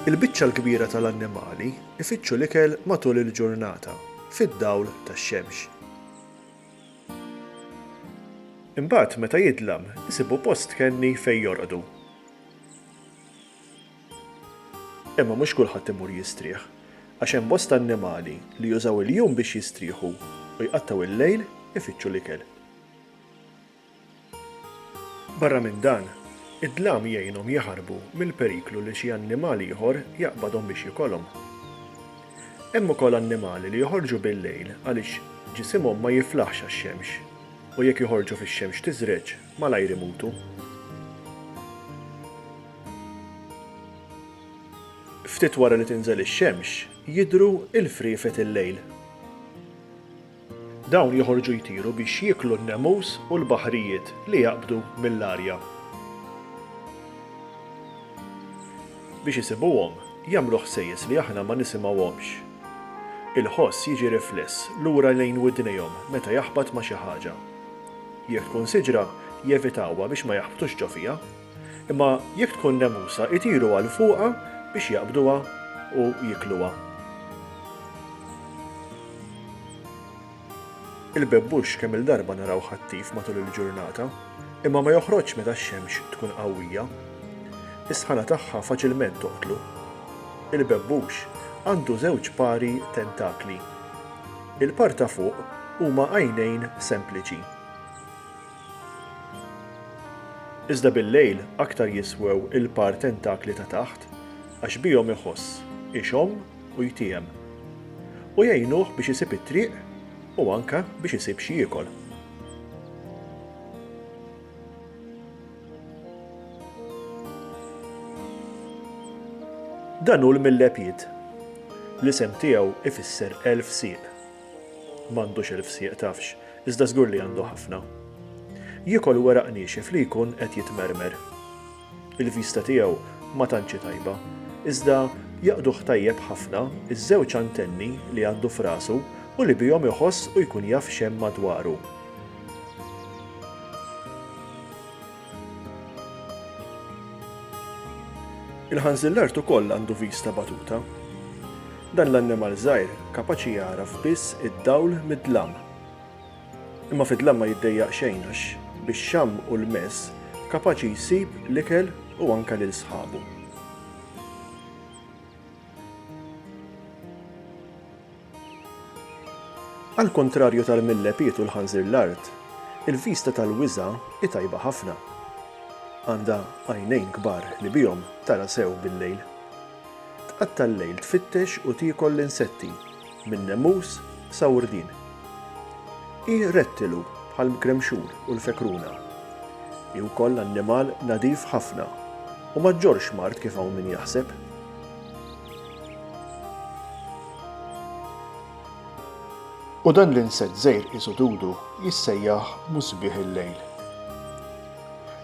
Il-biċċa l-kbira tal-annimali jfittxu l-ikel matul il-ġurnata fid-dawl tax-xemx. Imbagħad meta jidlam isibu post kenni fejn jorqdu. Imma mhux kulħadd imur jistrieħ, għax hemm bosta annimali li jużaw il-jum biex jistrieħu u jqattgħu il-lejl ifittxu l-ikel. Barra minn dan, id-dlam jgħinhom jaħarbu mill-periklu li xi annimal ieħor jaqbadhom biex jikolhom. Hemm ukoll annimali li joħorġu bil-lejl għaliex ġisimhom ma jiflaħx għax-xemx u jekk joħorġu fix-xemx tiżreġ. Malajr imutu. Ftit wara li tinżel ix-xemx, jidhru l-friefet il-lejl. Dawn joħorġu jtiru biex jieklu n-nemus u l-baħrijiet li jaqbdu mill-arja. Biex isibuhom, jagħmlu ħsejjes li aħna ma nisimgħuhomx. Il-ħoss jiġi rifless lura lejn widnejhom meta jaħbat ma' xi ħaġa. Jekk tkun siġra, jevitawha biex ma jaħbtux ġo fiha. Imma jekk tkun nemusa, itiru għal fuqha biex jaqbduha u jiekluha. Il-bebbux kemm-il darba narawh attiv matul il-ġurnata, imma ma joħroġx meta x-xemx tkun qawwija. Is-sħana tagħha faċilment toqtlu. Il-bebbux għandu żewġ pari tentakli. Il-par ta' fuq huma għajnejn sempliċi. Iżda bil-lejl aktar jiswew il-par tentakli ta' taħt għax bihom iħoss, ixomm u jtiehem. U jgħinuh biex isib it-triq u anke biex isib x'jiekol. Dan hu l-millepit. L-isem tiegħu ifisser elf sieq. M'għandux elf sieq tafx, iżda żgur li għandu ħafna. Jiekol weraq niexif li jkun qed jitmermer. Il-vista tiegħu ma tantx hi tajba, iżda jaqduh tajjeb ħafna ż-żewġ antenni li għandu f'rasu u li bihom iħoss u jkun jaf x'hemm madwaru. Il-ħanżillart ukoll għandu vista batuta. Dan l-annimal żgħir kapaċi jagħraf biss id-dawl mid-dlam. Imma fid-dlam ma jiddejjaq xejn għax bix-xamm u l-mess kapaċi jsib l-ikel u anke lil sħabu. Għall-kuntrarju tal-millepied u l-ħanżir l-art, il-vista tal-wiża hi tajba ħafna. Għandha għajnejn kbar li bihom tara sew bil-lejl. Tqatta' l-lejl tfittex u tiekol l-insetti, minn nemus sa wrdien. Hi rettilu bħall-mkremxur u l-fekruna. Hi wkoll annimal nadif ħafna u ma ġġorrx mard kif hawn min jaħseb. U dan l-insett żgħir qisu dudu jissejjaħ musbieħ il-lejl.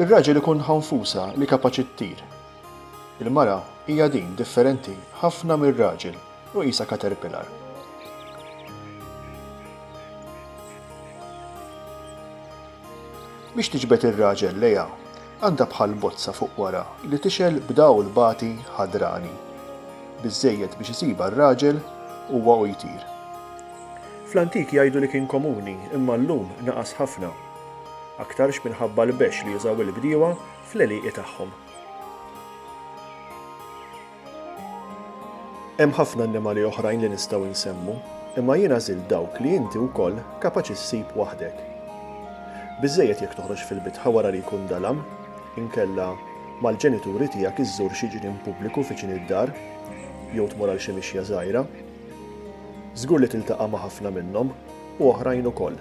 Ir-raġel ikun ħanfusa li kapaċi ttir. Il-mara hija din differenti ħafna mir-raġel u qisha caterpillar. Biex tiġbed ir-raġel lejha, Għandha bħal bozza fuq wara li tixgħel b'dawl bati ħadrani, biżżejjed biex isibha r-raġel huwa u jtir. Fl-antik jgħidu li kien komuni imma llum naqas ħafna. Aktarx minħabba l-bexx li jużaw il-bdiewa fl-għelieqi tagħhom. Hemm ħafna annimali oħrajn li nistgħu nsemmu, imma jien għażilt dawk li inti wkoll kapaċi ssib waħdek. Biżżejjed jekk toħroġ fil-bitħa wara li jkun dalam, inkella mal-ġenituri tiegħek iżżur xi ġnien pubbliku viċin id-dar, jew tmur għal xi mixja żgħira. Żgur li tiltaqa' ma' ħafna minnhom, u oħrajn ukoll.